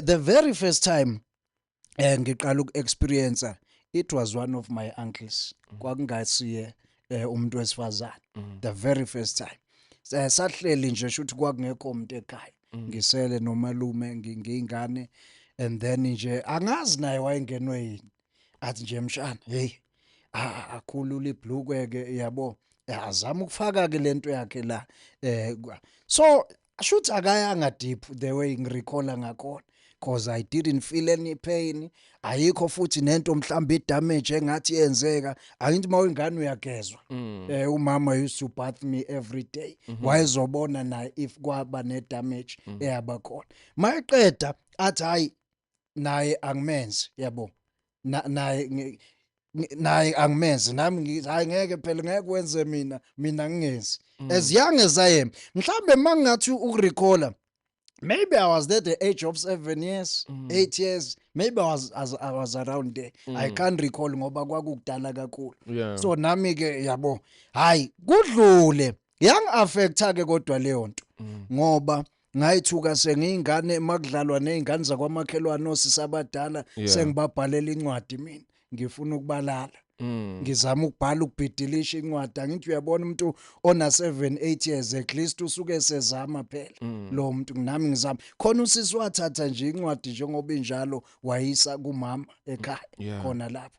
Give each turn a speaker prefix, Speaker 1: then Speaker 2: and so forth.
Speaker 1: the very first time eh ngiqala ukuexperience it was one of my uncles mm. kwakungasiye eh, umuntu wesifazane mm. the very first time eh, sahleli nje shuthi kwakungekho umuntu ekhaya mm. ngisele nomalume ngingane and then nje angazi naye wayengenwe yini athi nje mshana hey akhulula ibhlukwe ke yabo azama ukufaka ke lento yakhe la eh so ashuthi akayanga deep the way ngirecalla ngakhona because i didn't feel any pain ayikho futhi nento mhlawumbe idamage engathi yenzeka angithi uma ingane uyagezwa mm. eh umama used to bath me every day mhm. wayezobona naye if kwaba ne damage mm. eyabakhona mayeqeda athi hayi naye angimenzi yabo naye naye angimenzi nami hayi ngeke phela ngeke kwenze mina mina ngingenzi mm. as young as i am mhlambe mangathi ukurecalla maybe i was there the age of 7 years 8 mm. years maybe i was as, i was around there mm. i can't recall ngoba kwakukudala kakhulu yeah. so nami ke yabo hayi kudlule yang affecta ke kodwa leyo nto mm. ngoba ngayithuka sengiyingane makudlalwa nezingane zakwamakhelwane osisi abadala Yeah. sengibabhalela incwadi mina ngifuna ukubalala Mm. ngizama ukubhala ukubhidilisha incwadi angithi uyabona umuntu ona 7 8 years at least usuke sezama phela Mm. lo muntu nami ngizama khona usisi wathatha nje incwadi njengoba injalo wayisa kumama ekhaya Yeah. khona lapho